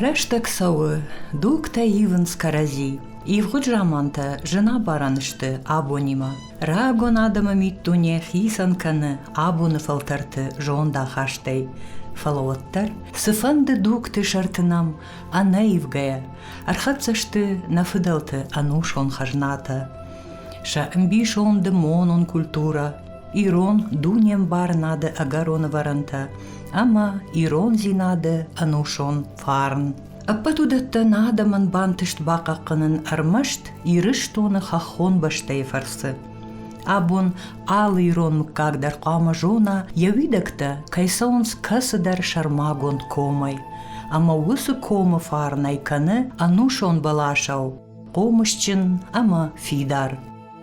Рӕстӕг цӕуы, дугтӕ ивынц кӕрӕдзи. Ивгъуыд замантӕ зынабарӕн сты абонимӕ. Рагон адӕмы миддуне хицӕн кӕны абоны фӕлтӕрты зондахастӕй. Фӕлӕ уӕддӕр цыфӕнды дугты сӕрты нӕм ӕнӕивгӕйӕ ӕрхӕццӕ сты нӕ фыдӕлты ӕнусон хӕзнатӕ. Сӕ ӕмбисонды монон культурӕ, ирон дунембарынады ӕгӕрон ӕвӕрӕнтӕ ӕмӕ ирондзинады ӕнусон фарн. Ӕппӕт уыдӕттӕн адӕмӕн бантыст бахъахъхъӕнын ӕрмӕст Ирыстоны хӕххон бӕстӕйы фӕрцы. Абон алы ирон мыггаг дӕр хъуамӕ зона, йӕ уидӕгтӕ кӕй цӕуынц кӕцыдӕр сӕрмагонд комӕй, ӕмӕ уыцы комы фарнӕй кӕны ӕнусон бӕласау хъомысджын ӕмӕ фидар.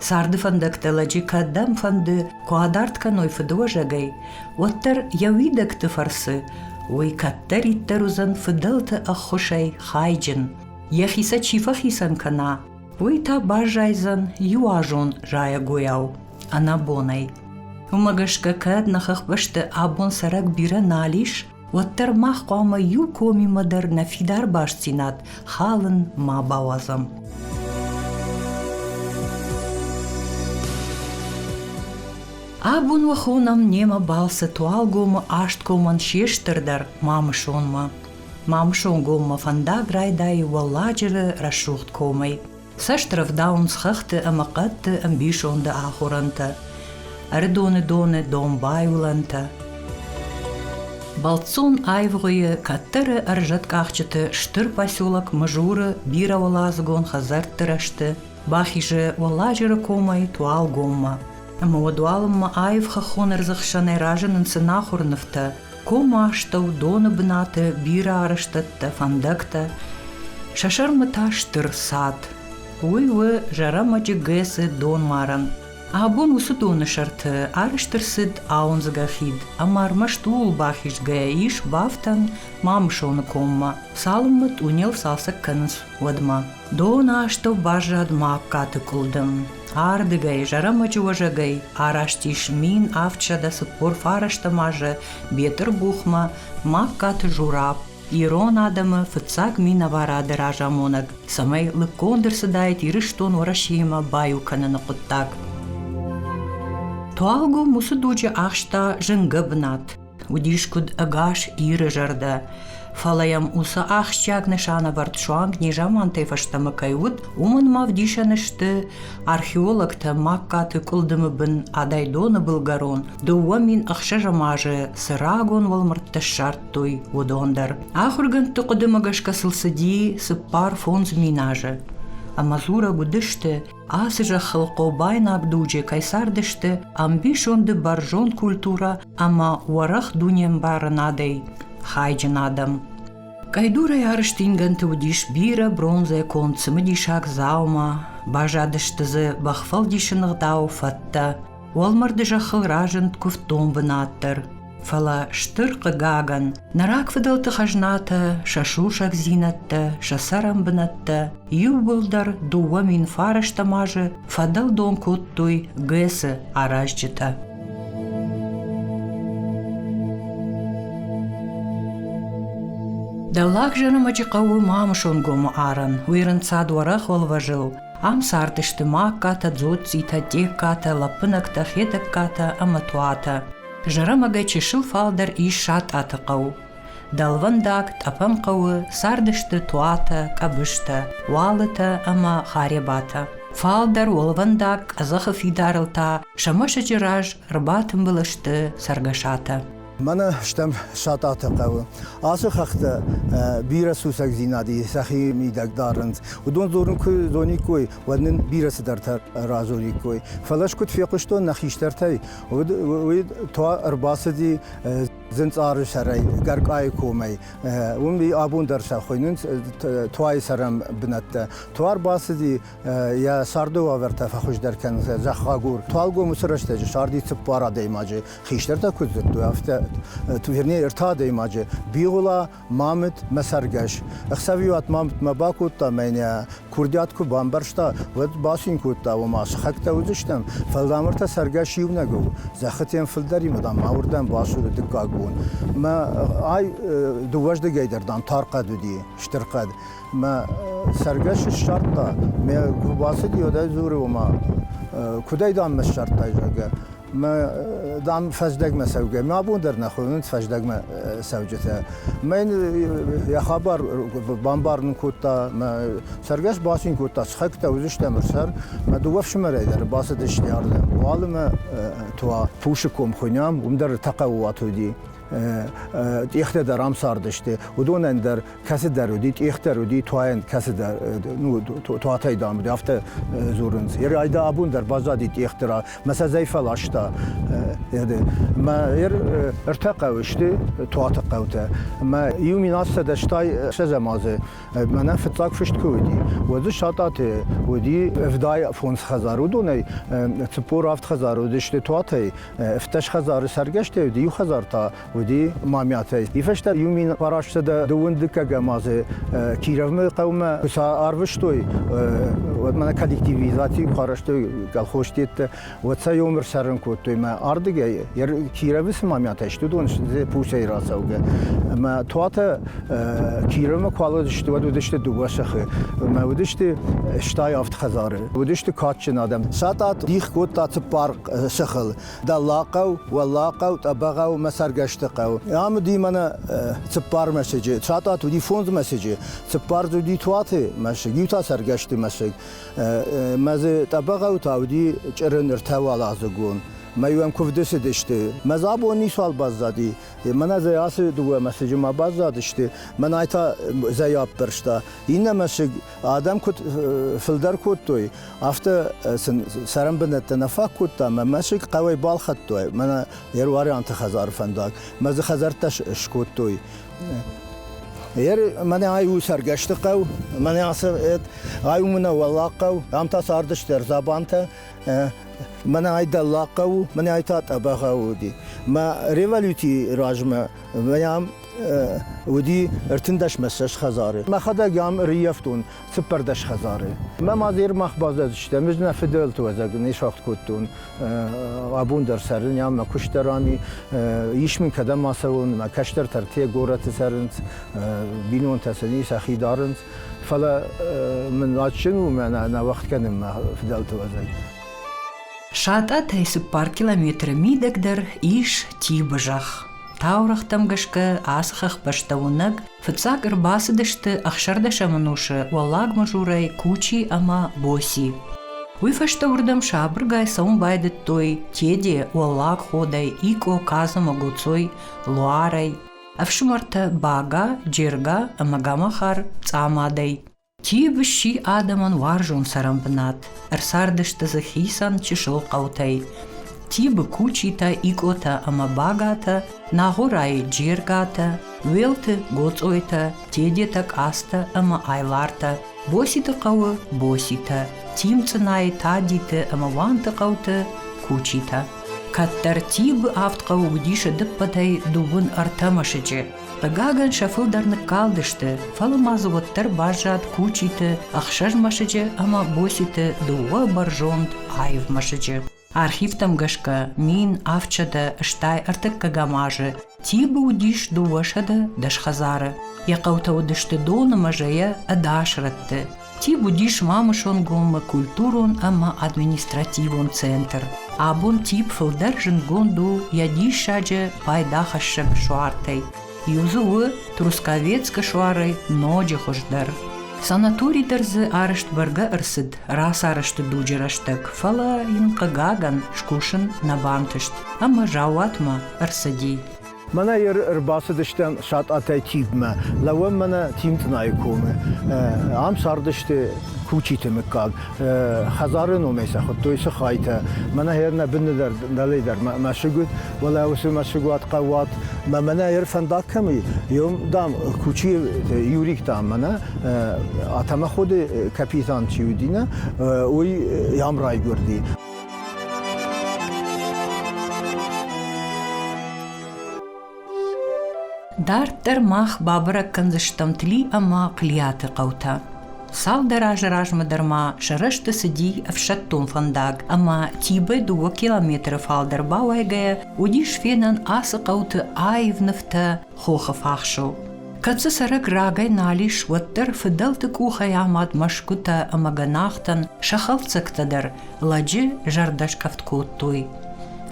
Царды фӕндӕгтӕ лӕджы кӕдӕм фӕнды куы адард кӕной фыдыуӕзӕгӕй, уӕддӕр йӕ уидӕгты фӕрцы уый кӕддӕриддӕр уыдзӕн фыдӕлты ӕххуысӕй хайджын, йӕхи сӕ чи фӕхицӕн кӕна, уый та баззайдзӕн иуазон зайӕгойау, ӕнӕбонӕй. Уымӕ гӕсгӕ кӕд нӕ хӕхбӕсты абон цӕрӕг бирӕ нал ис, уӕддӕр мах хъуамӕ иу комимӕ дӕр нӕ фидар бастдзинад халын ма бауадзӕм. Абон уӕ хонӕм немӕ балцы Туалгомы Асткомӕн се стырдӕр мамысонмӕ. Мамысонгоммӕ фӕндаг райдайы Уӕлладжыры рӕсугъд комӕй. Цӕст рӕвдауынц хӕхты ӕмӕ хъӕдты ӕмбисонды ахорӕнтӕ, ӕрыдоны доны домбай уылӕнтӕ. Бӕлццон аивгъуыйы кӕддӕры ӕрзӕткъахджыты стыр поселок Мызуры бирӕуӕладзыгон хӕдзӕртты рӕзты бахизы Уӕлладжыры комӕй Туалгоммӕ. Ӕмӕ уӕдуалынмӕ аив хӕххон ӕрдзы хсӕнӕй разынынц ӕнахуыр нывтӕ, Ком астӕу доны бынаты бирӕ арӕзтӕдтӕ, фӕндӕгтӕ. Сӕ сӕрмӕ та стыр сад. Уый у Зӕрӕмӕджы ГЭС-ы донмарӕн. Абон уыцы доны сӕрты арӕзт ӕрцыд ауындзгӕ хид, ӕмӕ ӕрмӕст ууыл бахизгӕйӕ ис бафтӕн Мамысоны коммӕ, цалынмӕ тъунел цалцӕг кӕнынц, уӕдмӕ. Дон астӕу баззад ма аккаты къуылдым. Ардыгӕй, зӕрӕмӕджы уӕзӕгӕй араст ис мин авдсӕдӕ цыппор фарӕстӕм азы Бетъырбухмӕ Магкаты Жураб, ирон адӕмы фыццаг минӕварады разамонӕг, цӕмӕй лыггонд ӕрцыдаид Ирыстон Уӕрӕсеимӕ баиу кӕныны хъуыддаг. Туалгом уыцы дуджы ахста зынгӕ бынат. Уыдис куыд ӕгас Иры зӕрдӕ, фӕлӕ йӕм уыцы ахсджиаг нысанӕвӕрд суанг незамантӕй фӕстӕмӕ кӕй уыд, уымӕн ма вдисӕн сты археологтӕ Магкаты къуылдымы бын Адайдоны былгӕрон, дыууӕ мин ӕхсӕзӕм азы цы рагон уӕлмӕрдтӕ ссардтой, уыдон дӕр. Ахуыргӕндты хъуыдымӕ гӕсгӕ сыл цыди цыппар фондз мин азы. Ӕмӕ дзурӕг уыдысты, ацы зӕххыл хъобайнаг дуджы кӕй цардысты ӕмбисонды бӕрзонд культурӕ ӕма уӕрӕх дунембарынадӕй хайджын адӕм. Къӕйдурӕй ӕрстингӕнты уыдис бирӕ бронзӕ конд цымыдисаг дзаума, баззадысты дзы бӕхфӕлдисыны гъдау фӕдтӕ, уӕлмӕрды зӕххыл разынд куывддон бынат дӕр. Фӕлӕ стыр хъыгагӕн, нӕ рагфыдӕлты хӕзнатӕ, сӕ сусӕгдзинӕдтӕ, сӕ цӕрӕнбынӕттӕ иууылдӕр дыууӕ мин фарӕстӕм азы фӕдӕлдон кодтой ГЭС-ы аразджытӕ. Дӕллаг Зӕрӕмӕджы хъӕуы Мамысонгомы арӕн. Уый рынцад уӕрӕх уӕлвӕзыл. Ам цардысты Маккатӕ, Дзоццитӕ, Тъеккатӕ, Лӕппынӕгтӕ, Хетӕгкатӕ ӕмӕ Туатӕ. Зӕрӕмӕгӕй чысыл фалдӕр ис Сатъаты хъӕу. Дӕлвӕндаг тъӕпӕн хъӕуы цардысты туатӕ, къӕбыстӕ, уалытӕ ӕмӕ харебатӕ. Фалдӕр уӕлвӕндаг къӕдзӕхы фидарыл та сӕ мӕсыджы раз ӕрбатымбыл сты цӕргӕсатӕ. Мӕнӕ стӕм Сатъаты хъӕуы. Ацы хӕхтӕ бирӕ сусӕгдзинады сӕхи мидӕг дарынц. Уыдон дзурын куы зониккой, уӕд нын бирӕ цыдӕртӕ радзуриккой. Фӕлӕ скуыд фехъуыстон нӕ хистӕртӕй, уый туа ӕрбацыди Зынцъары сӕрӕй, Гӕркъайы комӕй, уым абон дӕр сӕ хуыйнынц туайы цӕрӕн бынӕттӕ. Туар бацыди, йӕ царды уавӕртӕ фӕхуыздӕр кӕнын сӕ зӕххагур. Туалгомы цы рӕстӕджы сарди цыппар адӕймаджы, хистӕртӕ куыд зыдтой, афтӕ, вернее, ртӕ адӕймаджы, Бигъуыла Мамыт, мӕ цӕргӕс. Ӕхсӕвиуат мамытмӕ бакодта мӕнӕ, курдиат куы бамбӕрста, уӕд бацин кодта, ома сыхӕгтӕ уыдзыстӕм, фӕлдамӕртӕ цӕргӕс иунӕг у. Зӕххытӕм фылдӕримӕ, дам, ауырдӕм бацуды дыккаг бон. Мӕ ай дыууӕздыгӕй дӕр, дам, тар хъӕд уыди, стыр хъӕд. Мӕ цӕргӕс ссардта, мӕ куы бацыди, уӕд ӕй дзуры, ома, куыдӕй, дам, ссардтай, зӕгъгӕ. Мӕ, дам, фӕздӕгмӕ цӕугӕ. Мӕ бон дӕр нӕ хонынц фӕздӕгмӕ цӕуджытӕ. Мӕ йын йӕ хабар бамбарын кодта, мӕ цӕргӕс бацин кодта, сыхӕгтӕ уыдзыстӕм ӕрсӕр. Мӕ дыууӕ фсымӕрӕй дӕр бацыдысты ардӕм. Уалынмӕ туа пусы ком хуынӕм, уым дӕр тӕхъӕуаты уыди. Тъехтӕ дӕр ам цардысты, уыдонӕн дӕр кӕцыдӕр уыди, тъехтӕр уыди, туайӕн кӕцыдӕр ну, туатӕй дам уыди, афтӕ дзурынц. Ер айда абон дӕр баззади тъехты рā, мӕ сӕ зӕй фӕласта. Мӕ ер ӕртӕ хъӕуы сты туаты хъӕутӕ. Мӕ иу миназсӕдӕстай сӕдзӕмазы мӕнӕ фыццаг фыст куы уыди, уӕд дзы сатъаты уыди ӕвдай фондз хӕдзар. Уыдонӕй цыппор авд хӕдзар уыдысты туатӕй, ӕвддӕс хӕдзары цӕргӕстӕй уыди, иу хӕдзар та уыди Мамӕтӕй. Ифӕстӕ иу мин фарастсӕдӕ дыууындыккӕгӕм азы Кировмӕ хъӕумӕ куы сарвыстой, уӕд мӕнӕ коллективизаци куы арӕзтой колхозтеттӕ, уӕд сӕ ёмыр сӕрын кодтой мӕ ардыгӕй. Кировы цы Мамӕтӕ сты, уыдон сты Пусӕй рацӕугӕ. Мӕ туатӕ Кировмӕ куы алыдысты, уӕд уыдысты дыууӕ сыхы. Мӕ уыдысты стайы авд хӕдзары. Уыдысты кадджын адӕм. Сӕ тъат дих кодта цыппар сыхыл. Дӕллагхъӕу, Уӕллагхъӕу, Тъӕбӕгъӕу мӕ цӕргӕсты хъӕу. Ам уыди мӕнӕ цыппар мӕсыджы, Цатат уыди фондз мӕсыджы, цыппар дзы уыди туаты мӕсыг, иу та цӕргӕсты мӕсыг. Мӕ дзы Тъӕбӕгъӕу та уыди чъырын ртӕ уӕладзыгон. Мӕ иуӕн куывды цыдысты. Мӕ дзы абон ницуал баззади. Мӕнӕ зӕй ацы дыууӕ мӕсыджы ма баззадысты. Мӕнӕй та зӕй аппӕрста. Иннӕ мӕсыг Адӕм куыд фылдӕр кодтой, афтӕ сын цӕрӕнбынӕттӕ нӕ фаг кодта, мӕ мӕсыг хъӕуӕй балхӕдтой мӕнӕ Еруарианты хӕдзары фӕндаг, мӕ дзы хӕдзӕрттӕ скодтой. Ер мӕнӕ ай у цӕргӕсты хъӕу, мӕнӕ ацы ай у мӕнӕ Уӕллаг хъӕу, ам та цардысты ӕрзабантӕ, мӕнӕ ай Дӕллаг хъӕу у, мӕнӕ ай та Тъӕбӕгъӕу уыди. Мӕ революцийы размӕ мӕ ам уыди ӕртындӕсмӕссӕс хӕдзары. Мӕхӕдӕг ам ӕрыййӕфтон цыппӕрдӕс хӕдзары. Мӕ мад Ермах баззадыстӕм, ӕз нӕ фыдӕлты уӕзӕг не сфӕхт кодтон. Абон дӕр цӕрын ам, мӕ куыст дӕр ами. Ис мын кӕдӕм ацӕуын, мӕ кӕстӕртӕ ӕртӕ горӕты цӕрынц, бинонтӕ сӕ сӕхи дарынц. Фӕлӕ мын адджын у мӕнӕ нӕ уӕгъд кӕнын мӕ фыдӕлты уӕзӕг. Сатъатӕй цыппар километры мидӕгдӕр ис Тибы зӕхх. Таурӕгътӕм гӕсгӕ ацы хӕхбӕстӕ уынӕг фыццаг ӕрбацыдысты ӕхсӕрдӕсӕмон усы Уӕллаг Мызурӕй Кучи ӕмӕ Боси. Уый фӕстӕ уырдӕм сабыргай цӕуын байдыдтой Теде, Уӕллаг Ходӕй, Икъо, Казымы, Гуцой, Луарӕй, ӕфсымӕртӕ Бага, Джерга ӕмӕ Гамахар Цъамадӕй. Тиб сси адӕмон уарзон цӕрӕнбынат. Ӕрцардысты дзы хицӕн чысыл хъӕутӕй. Тибы кучитӕ, икъотӕ ӕмӕ багатӕ, Нагъуырайы джергатӕ, Уелты Гоцъойтӕ, Тедетӕ Къацтӕ ӕмӕ Айлартӕ, Боситы хъӕуы Боситӕ, Тимцъынайы Тадиты ӕмӕ Уанты хъӕуты Кучитӕ. Кӕддӕр Тибы авд хъӕуы уыдис ӕдыппӕтӕй дыууын ӕртӕ мӕсыджы. Хъыгагӕн, сӕ фылдӕр ныккалдысты, фӕлӕ ма дзы уӕддӕр баззад Кучиты, Ӕхсӕзмӕсыджы ӕмӕ Боситы дыууӕ бӕрзонд аив мӕсыджы. Архивтӕм гӕсгӕ мин авдсӕдӕ, стӕй ӕртыккӕгӕм азы Тибы уыдис дыууӕсӕдӕ дӕс хӕдзары. Йӕ хъӕутӕ уыдысты Доны мӕзӕйӕ ӕдас рӕтты. Ти уыдис Мамысонгоммӕ культурон ӕмӕ административон центр. Абон тип фылдӕр зындгонд у йӕ диссаджы пайдахӕссӕг суартӕй. Иу дзы у Трусковецкы суарӕй ноджы хуыздӕр. Санатори дӕр дзы арӕзт бӕргӕ ӕрцыд рацарӕзты дуджы рӕстӕг, фӕлӕ йын, хъыгагӕн, скусын нӕ бантыст ӕмӕ заууатмӕ ӕрцыди. Мӕнӕ еры ӕрбацыдыстӕм Сатъатӕй Киевмӕ, лӕууӕм мӕнӕ Тинтънайы комы. Ам цардысты Кучиты мыггаг. Хӕдзары номӕй сӕ хуыдтой Сыхайтӕ. Мӕнӕ ер нӕ быны дӕр, дӕле дӕр мӕсыг уыд, уӕлӕ уыцы мӕсыгуат хъӕуат. Мӕ мӕнӕ ер фӕндаг кӕм и, ем, дам, Кучийы Юрик, дам, мӕнӕ Атамӕходы капитан чи уыди, нӕ, уый ам райгуырди. Дарддӕр мах бабӕрӕг кӕндзыстӕм Тли ӕмӕ Хълиаты хъӕутӕ. Цалдӕр азы размӕ дӕр ма сӕ рӕзты цыди ӕфсӕддон фӕндаг ӕмӕ Тибӕ дыууӕ километры фалдӕр бауайгӕйӕ уыдис фенӕн ацы хъӕуты аив нывтӕ хохы фахсыл. Кӕд дзы цӕрӕг рагӕй нал ис, уӕддӕр фыдӕлты къухӕй амад мӕсгуытӕ ӕмӕ гӕнахтӕн сӕ хӕлддзӕгтӕ дӕр лӕджы зӕрдӕскъӕфт кодтой.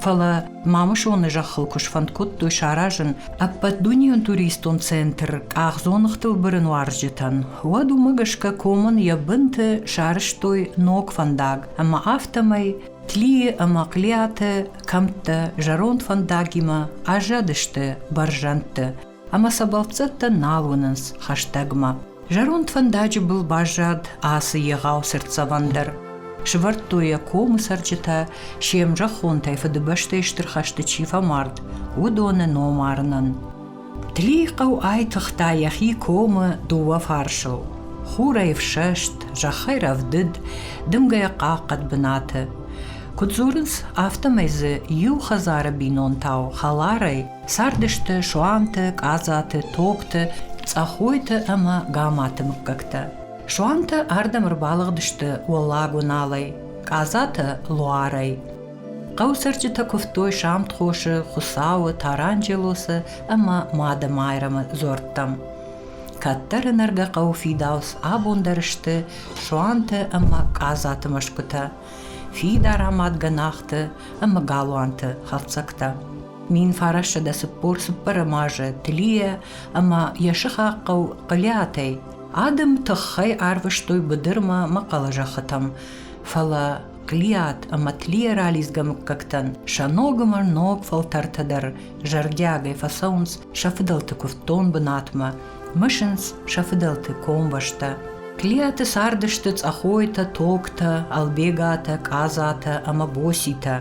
Фӕлӕ Мамысоны зӕххыл куы сфӕнд кодтой саразын ӕппӕтдунейон туристон центр къахдзоныгътыл бырын уарзджытӕн, уӕд уымӕ гӕсгӕ комӕн йӕ бынты сарӕзтой ног фӕндаг, ӕмӕ афтӕмӕй Тлийы ӕмӕ Хълиаты кӕмттӕ зӕронд фӕндагимӕ аззадысты бӕрзӕндты ӕмӕ сӕ бӕлццӕттӕ нал уынынц хӕстӕгмӕ. Зӕронд фӕндаджы был баззад ацы егъау цыртдзӕвӕн дӕр. Сывӕрдтой йӕ комы цӕрджытӕ, се мзӕххонтӕй Фыдыбӕстӕйы Стыр хӕсты чи фӕмард, уыдоны ном арынӕн. Тлихъӕу айтыгъта йӕхи комы дыууӕ фарсыл: хурӕй ӕфсӕст, зӕххӕй рӕвдыд, дымгӕйӕ хъахъхъӕд бынаты. Куыд дзурынц, афтӕмӕй дзы иу хӕдзары бинонтау хӕларӕй цардысты суанты Къадзаты, Токты, Цъӕхойты ӕмӕ Гаматы мыггӕгтӕ. Суанты ардӕм ӕрбалыгъдысты Уӕллаг Уыналӕй, Къадзаты Луарӕй. Хъӕуцӕрджытӕ куывтой Самтхосы, Хуыцауы, Таранджелосы ӕмӕ Мады-Майрӕмы дзуӕрттӕм. Кӕддӕры нӕргӕ хъӕуы фидауц абон дӕр сты Суанты ӕмӕ Къадзаты мӕсгуытӕ, фидар амад гӕнахты ӕмӕ галуанты хӕлцӕгтӕ. Мин фарӕссӕ дӕ цыппор цыппӕрӕм азы Тлийӕ ӕмӕ йӕ сыхаг хъӕу Хъылиатӕй адӕм тыххӕй арвыстой быдырмӕ мӕхъӕлы зӕххытӕм, фӕлӕ Клиат ӕмӕ Тлийӕ ралидзгӕ мыггӕгтӕн сӕ ногмӕ ног фӕлтӕртӕ дӕр зӕрдиагӕй фӕцӕуынц сӕ фыдӕлты куывддон бынатмӕ, мысынц сӕ фыдӕлты комбӕстӕ. Клиаты цардысты Цъӕхойтӕ, Токтӕ, Албегатӕ, Къадзатӕ ӕмӕ Боситӕ.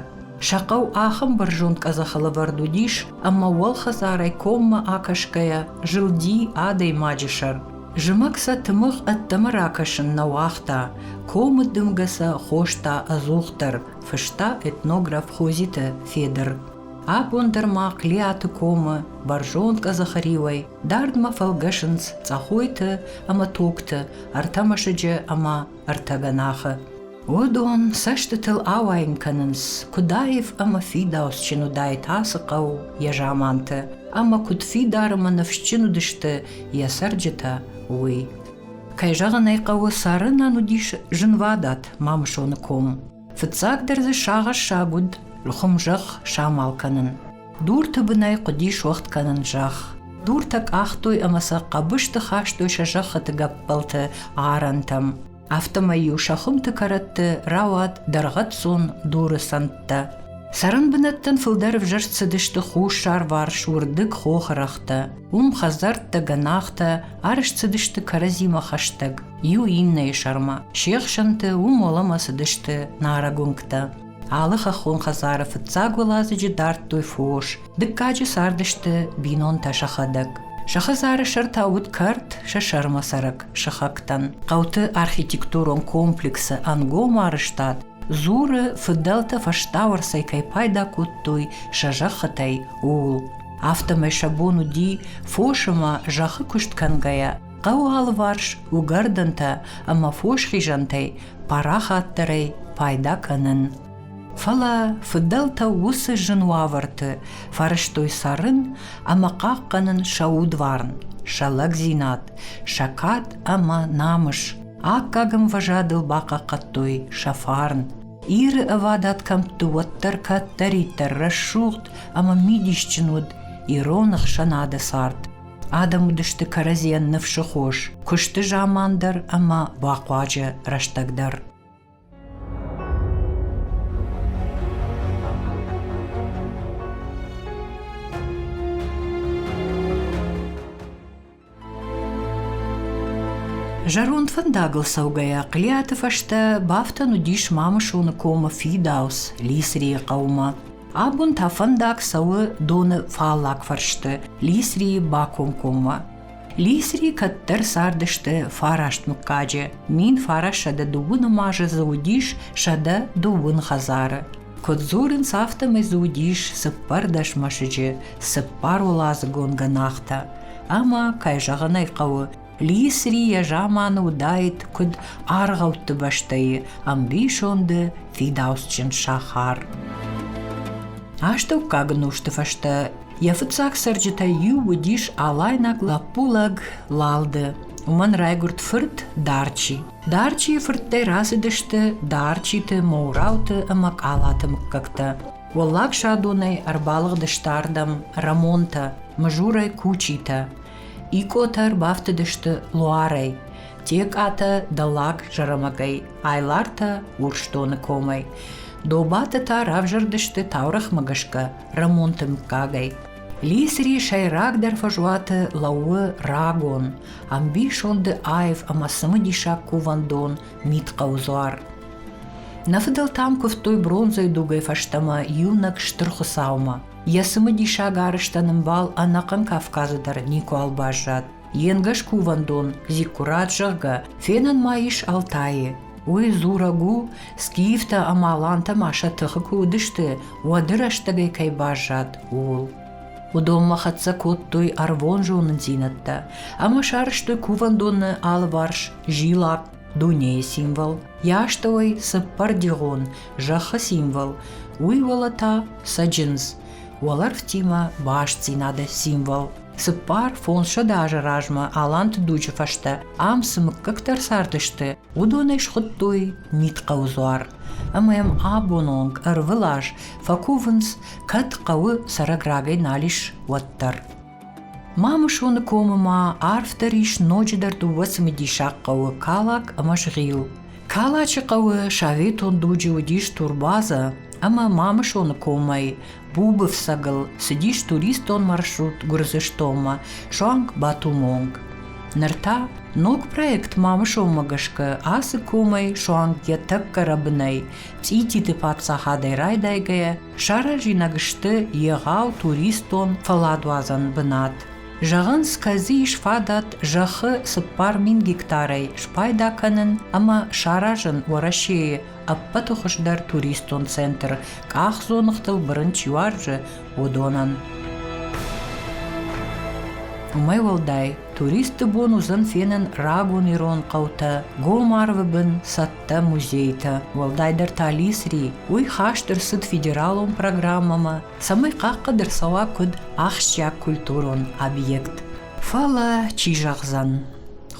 Сӕ хъӕу ахӕм бӕрзонд къӕдзӕхы лӕвӕрд уыдис, ӕмӕ уӕлхӕдзарӕй коммӕ акӕсгӕйӕ, зылди адӕймаджы сӕр. Зымӕг сӕ тымыгъ ӕддӕмӕ ракӕсын нӕ уагъта, комы дымгӕ сӕ хоста ӕдзухдӕр, фыста этнограф Хозиты Федыр. Абон дӕр ма Клиаты комы бӕрзонд къӕдзӕхы риуӕй дардмӕ фӕлгӕсынц Цъӕхойты ӕмӕ Токты, ӕртӕ мӕсыджы ӕмӕ ӕртӕ гӕнахы. Уыдон цӕстытыл ауайын кӕнынц, куыд аив ӕмӕ фидауцджын уыдаид ацы хъӕу йӕ заманты, ӕмӕ куыд фидарым ӕмӕ ныфсджын уыдысты йӕ цӕрджытӕ, уый. Кӕй зӕгъын ӕй хъӕуы, цӕрынӕн уыдис зынвадат Мамысоны ком. Фыццагдӕр дзы сагъӕссаг уыд хуымзӕхх самал кӕнын. Дурты бынӕй хъуыди суӕгъд кӕнын зӕхх. Дуртӕ къахтой ӕмӕ сӕ хъӕбысты хастой сӕ зӕххыты гӕппӕлты арӕнтӕм. афтӕмӕй-иу сӕ хуымты кӕрӕтты рауад дӕргъӕццон дуры сӕнттӕ. Цӕрӕн бынӕттӕн фылдӕр ӕвзӕрст цыдысты хуссарварс уырдыг хохырӕгътӕ, уым хӕдзӕрттӕ, гӕнахтӕ арӕзт цыдысты кӕрӕдзимӕ хӕстӕг, иу иннӕйы сӕрмӕ. Се хсӕнты уым уӕлӕмӕ цыдысты нарӕг уынгтӕ. Алы хӕххон хӕдзары фыццаг уӕладзыджы дардтой фос. Дыккаджы цардысты бинонтӕ сӕхӕдӕг. Сӕ хӕдзары сӕртӕ уыд кӕрт сӕ сӕрмӕцӕрӕг сыхӕгтӕн. Хъӕуты архитектурон комплексы ӕнгом арӕзтад дзуры, фыдӕлтӕ фӕстауӕрцӕй кӕй пайда кодтой сӕ зӕххытӕй, ууыл. Афтӕмӕй сӕ бон уыди, фос ӕмӕ зӕххы куыст кӕнгӕйӕ, хъӕуы алыварс уыгӕрдӕнтӕ ӕмӕ фосхизӕнтӕй парахатдӕрӕй пайда кӕнын. Фӕлӕ фыдӕлтӕ уыцы зын уавӕрты фӕрӕзтой цӕрын ӕмӕ хъахъхъӕнын сӕ удварн, сӕ лӕгдзинад, сӕ кад ӕмӕ намыс. Аккаг ӕмвӕзадыл бахъахъхъӕдтой сӕ фарн. Иры ӕвадат кӕмтты уӕддӕр кӕддӕриддӕр рӕсугъд ӕмӕ мидисджын уыд ирон ӕхсӕнады цард. Адӕм уыдысты кӕрӕдзийӕн ныфсы хос, куысты заман дӕр ӕмӕ бахъуаджы рӕстӕг дӕр. Зӕронд фӕндагыл цӕугӕйӕ Хълиаты фӕстӕ бафтӕн уыдис Мамысоны комы фидауц Лисрийы хъӕумӕ. Абон та фӕндаг цӕуы доны фаллаг фӕрсты, Лисрийы бакомкоммӕ. Лисри кӕддӕр цардысты фараст мыггаджы. Мин фарасӕдӕ дыууы нымазы дзы уыдис сӕдӕ дыууын хӕдзары. Куыд дзурынц, афтӕмӕй дзы уыдис цыппӕрдӕс мӕсыджы, цыппар уӕладзыгон гӕнахтӕ. Ӕмӕ, кӕй зӕгъын ӕй хъӕуы, Лисри йӕ заманы уыдаид куыд аргъӕутты бӕстӕйы ӕмбисонды фидауцджын сахар. Астӕуккаг ӕнусты фӕстӕ йӕ фыццаг цӕрджытӕй иу уыдис алайнаг лӕппу-лӕг Лалды. Уымӕн райгуырд фырт Дарчи. Дарчийы фырттӕй рацыдысты Дарчиты, Моурауты ӕмӕ Къалаты мыггӕгтӕ. Уӕллаг Садонӕй ӕрбалыгъдысты ардӕм Рамонтӕ, Мызурӕй Кучитӕ. Икъотӕ ӕрбафтыдысты Луарӕй, Текъатӕ Дӕллаг Зӕрӕмӕгӕй, Айлартӕ Урсдоны комӕй, Добаты та равзӕрдысты таурӕгъмӕ гӕсгӕ Рӕмонты мыггагӕй. Лисри сӕйрагдӕр фӕзуаты лӕууы рагон, ӕмбисонды аив ӕмӕ цымыдисаг кувӕндон Митхъӕуы дзуар. Нӕ фыдӕлтӕм куывтой бронзӕйы дугӕй фӕстӕмӕ иунӕг Стыр Хуыцаумӕ. Йӕ цымыдисаг арызтӕн ӕмбал ӕнӕхъӕн Кавказы дӕр никуал баззад. Йе нгӕс кувӕндон Зиккурат, зӕгъгӕ, фенӕн ма ис Алтайы. Уый дзурӕг у, скифтӕ ӕмӕ алантӕ ма сӕ тыхы куы уыдысты, уӕды рӕстӕгӕй кӕй баззад, ууыл. Уыдонмӕ хӕццӕ кодтой ӕрвон зонындзинӕдтӕ ӕмӕ сарызтой кувӕндоны алыварс зилакъ, дунейы символ, йӕ астӕуӕй цыппӕрдигъон зӕххы символ, уый уӕлӕ та цӕджындз, уӕлӕрвтимӕ бастдзинады символ. Цыппар фондзсӕдз азы размӕ Аланты дуджы фӕстӕ ам цы мыггӕгтӕ цардысты, уыдонӕй схуыдтой мидхъӕуы дзуар. Ӕмӕ йӕм абон онг ӕрвылаз фӕкувынц, кӕд хъӕуы цӕрӕг равӕй нал ис, уӕддӕр. Мамусоны комы ма арфдӕр ис ноджыдӕр дыууӕ цымыдисаг хъӕуы Калак ӕмӕ Згъил. Калачы хъӕуы советон дуджы уыдис турбаза, ӕмӕ Мамусоны комӕй Бубы фцӕгыл цыдис туристон маршрут Гуырдзыстонмӕ суанг Батумонг. Ныр та ног проект Мамусонмӕ гӕсгӕ ацы комӕй суанг йӕ тӕккӕ рӕбынӕй Цъититы паддзахадӕй райдайгӕйӕ саразинаг сты егъау туристон фӕладуадзӕн бынат. Зӕгъынц, кӕдзы ис фадат зӕххы цыппар мин гектарӕй спайда кӕнын ӕмӕ саразын Уӕрӕсейы ӕппӕты хуыздӕр туристон центр, къахдзоныгътыл бырын чи уарзы, уыдонӕн. Уымӕй уӕлдай Туристты бон уыдзӕн фенын рагон ирон хъӕутӕ, Гомарвы бын цӕттӕ музейтӕ, уӕлдайдӕр та Лисри. Уый хаст ӕрцыд федералон программӕмӕ, цӕмӕй хъахъхъӕд ӕрцӕуа куыд ахсджиаг культурон объект. Фӕлӕ, чи зӕгъдзӕн,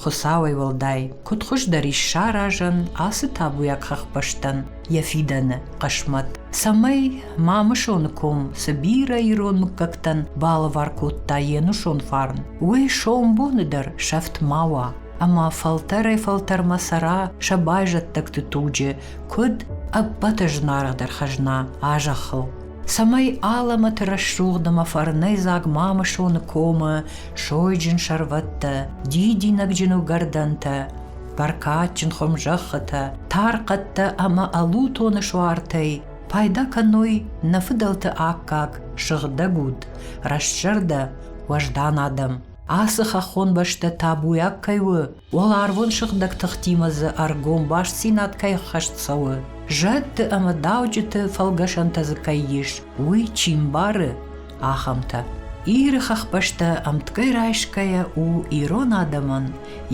Хуыцауӕй уӕлдай, куыд хуыздӕр ис саразӕн ацы табуйаг хӕхбӕстӕн, йӕ фидӕны хъысмӕт, цӕмӕй Мамысоны ком цы бирӕ ирон мыггӕгтӕн балӕвар кодта йе нусон фарн, уый сомбоны дӕр сӕфт ма уа. Ӕмӕ фӕлтӕрӕй-фӕлтӕрмӕ цӕра сӕ байзӕддӕгты туджы, куыд ӕппӕты зынаргъдӕр хӕзна а зӕххыл. Цӕмӕй алӕмӕты рӕсугъд ӕмӕ фӕрнӕйдзаг Мамысоны комы сойджын сӕрвӕттӕ, дидинӕгджын уыгӕрдӕнтӕ, бӕркадджын хуымзӕххытӕ, тархъӕдтӕ ӕмӕ ӕлутоны суартӕй пайда кӕной нӕ фыдӕлты аккаг сыгъдӕг уд, рӕстзӕрдӕ, уӕздан адӕм. Ацы хӕххон бӕстӕ табуйаг кӕй у, уӕларвон сыгъдӕг тыхтимӕ дзы ӕргом бастдзинад кӕй ӕххӕст цӕуы, зӕдты ӕмӕ дауджыты фӕлгӕсӕнтӕ дзы кӕй ис, уый чи мбары, ахӕмтӕ. Иры хӕхбӕстӕ ӕмтгӕй райсгӕйӕ у ирон адӕмӕн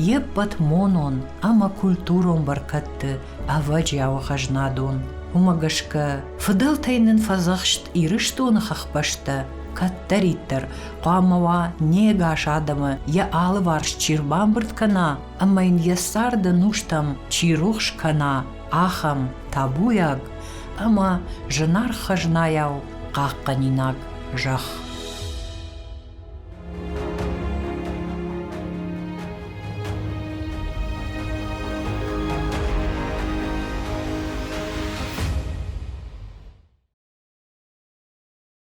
йе ппӕт монон ӕмӕ культурон бӕркӕдты ӕвӕджиауы хӕзнадон. Уымӕ гӕсгӕ фыдӕлтӕй нын фӕдзӕхст Ирыстоны хӕхбӕстӕ кӕддӕриддӕр хъуамӕ уа не гас адӕмы йӕ алыварс чи рбамбырд кӕна ӕмӕ йын йӕ царды нустӕм чи рухс кӕна, ахӕм табуйаг ӕмӕ зынаргъ хӕзнайау хъахъхъӕнинаг зӕхх.